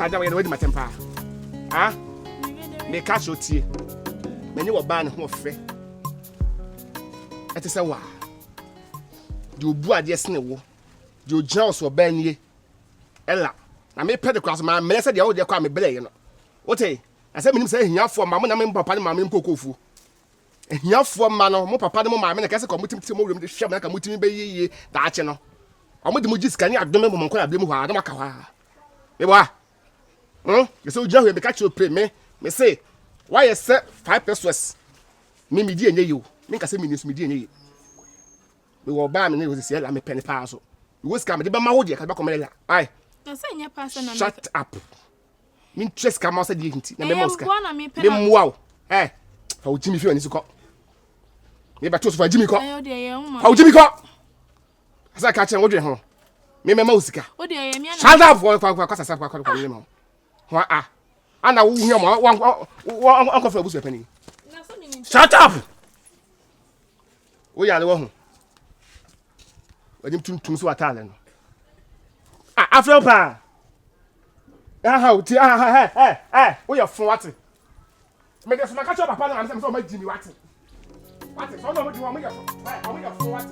agya wɔyɛ na wadi matɛm paa ah meka kyerɛ tie m'ani wɔ baa ne ho ɔfɛ ɛte sɛ waa deɛ obu adeɛ sene wo deɛ ogyina wo so ɔbaa nie ɛla na mepɛ de kora so mammrɛ sɛ deɛ wodeɛ kɔ a mebrɛeɛ no wote na sɛ menim sɛ ahiafoɔ ma mo na me papa ne maame mpokofuo ahiafoɔ mma no, mo papa ne mo maame na kɛse ka wɔtumi tiri mo wiem de hwɛ mo na ka motumi bɛyɛ yie daakye no. Wɔde mo gye sika ne adome bɔ mo nkɔ abirem hɔ a na maka hɔ a. Mebɔ a. Hmm? Yɛsɛ wogyina hɔ yɛ meka kyerɛ ope me me se woayɛ sɛ five pesos me medi ɛnyɛ yi o. Menka sɛ menni so medi ɛnyɛ yi. Mewɔ ɔbaa me ne yɛ sɛ ɛla mepɛ ne paa so. Mewɔ sika mede bɛma wo deɛ ka bɛkɔma ɛla. Ai. Shut up. mentua sika ma wo sɛ deɛ nti na mɛma wo sika memmoa wo ɛ fa wo gyimi fi w'ani so kɔ mebɛto so fa gyimi kɔ fa wo gyimi kɔ asɛ ka kyerɛ wodwene ho memɛma wo sika shut up kɔsasa kɔkɔkɔmene ma ho a ana wohia ma wankɔfrɛ abusua pani shut up wo yare wɔ ho wɔde tuntum so w'ataade no ah, afrɛ paa aha o ti aha ɛ ɛ ɛ woyɛ fo wate mede soma ka kyerɛ papa no maame sɛ mesɛ ɔmagyi mi wate wate sɛ ɔna ɔmagyi mi ɔmoyɛ fo ɛ ɔmoyɛ fo wate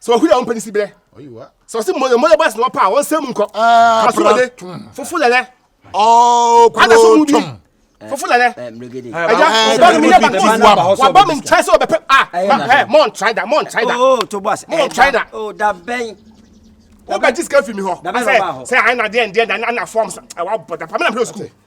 sɛ ɔhuri a ɔmpɛ ne si berɛ sɛ ɔse mmɔyɛ bɔs na ɔpa a ɔnsɛ mu nkɔ asomɔde fofo lɛlɛ ada so mu bi fofo lɛlɛ ɛgya ɔba mi yɛ bakɔ waba mi nkyɛn sɛ ɔbɛpɛ a ɛ mɔ ntrae da mɔ ntrae da mɔ ntrae da wobɛgye sika fi mi hɔ sɛ sɛ ae na deɛ ndeɛ na na fɔm sɛ ɛwa bɔ da pa me na mpɛ sukuu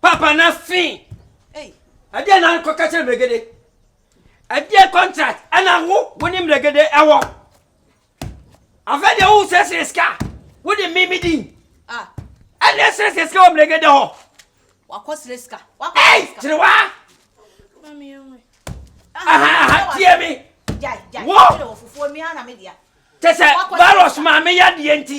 papa na fi ɛdeɛ na kɔ kɛkyɛ mmerɛgede ɛdeɛ contract ɛna wo wo ne mmerɛgede ɛwɔ afɛ deɛ wo sɛsɛ sika wo de mimi din ɛna ɛsɛsɛ sika wɔ mmerɛgede hɔ wakɔ srɛ sika wakɔ srɛ sika kyerɛ wa aha aha tie mi wo kyɛ sɛ virus maame yadeɛ nti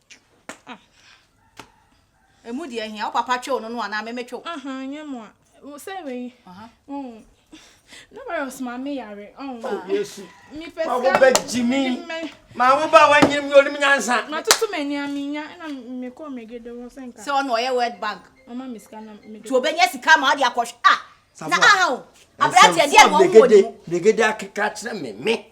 ɛmu deɛ ahia wo papa twew no no anaa meme twew nyɛ mu a sɛ wei na virus ma me yare mepɛ sika ma wo ba wanyere mi onim nyansa matoto m'ani a menya na mekɔ megede hɔ sɛ nka sɛ ɔno ɔyɛ world bank ɔma me sika na mede nti obɛnya sika ma ɔde akɔhwɛ a na aha o aberanteɛ deɛ na ɔwɔ ne mu megede akeka kyerɛ me me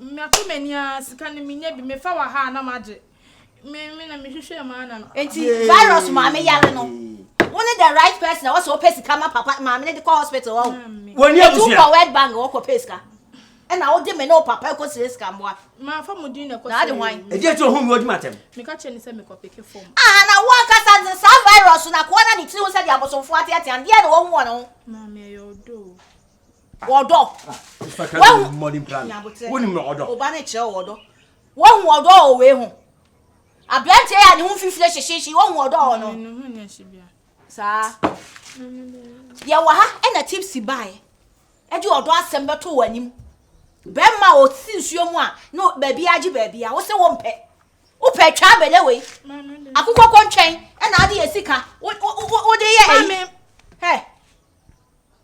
Mato m'ani ara, sika no menya bi, mefa wɔ ha a na magye. Me me na mehwehwɛ mu ara na. Enti virus maame yare no, wo ne the right person a wɔsɛ wɔpɛ sika ma papa maame no de kɔ hospital hɔ. Wɔn ni abusua. Etu kɔ World Bank wɔkɔ pɛ sika. Ɛna wode me ne wo papa kɔ sire sika mmoa. Mafa mo din na kɔ sire. Na ade hwan? Edi eti ohun bi odwuma atɛm. Meka kyerɛ ne sɛ mekɔ peke fam. Ah na wo ankasa ne saa virus na koa na ne tiri ho sɛ de abosomfo ateatea no deɛ na wɔhu wɔ ne ho. Maame ɛyɛ ɔdɔ o. Ɔdɔ. Wahu wonim ɔdɔ. Ɔba no kyerɛ wɔ ɔdɔ. Wahu ɔdɔ wɔ wei ho. Aberanteɛ yɛ a ne ho mfimfini hyehyehye wahu ɔdɔ wɔ no. Saa. Yɛwɔ ha ɛna tipsi baeɛ ɛde ɔdɔ asɛm bɛto wɔ anim. Bɛrima a ɔsi nsuo mu a ne baabi agye baabi a wo sɛ wompɛ. Wopɛ atwa abɛlɛ wei. Akokɔ kɔntwɛn ɛna ade yɛ sika. Wode yɛ ɛyi. Hɛ.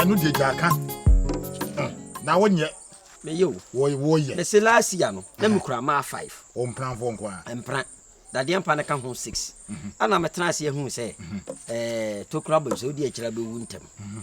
ɛno deɛ gya ka na wonyɛ meyɛ o wɔyɛ mese last year no na mekura maa five ɔmpranfoɔ nko a mpra dadeɛ mpa no ka ho six mhm. ana metena ase ahu sɛ mhm. eh, tokura bam sɛ wode akyira bɛwu ntɛm mhm.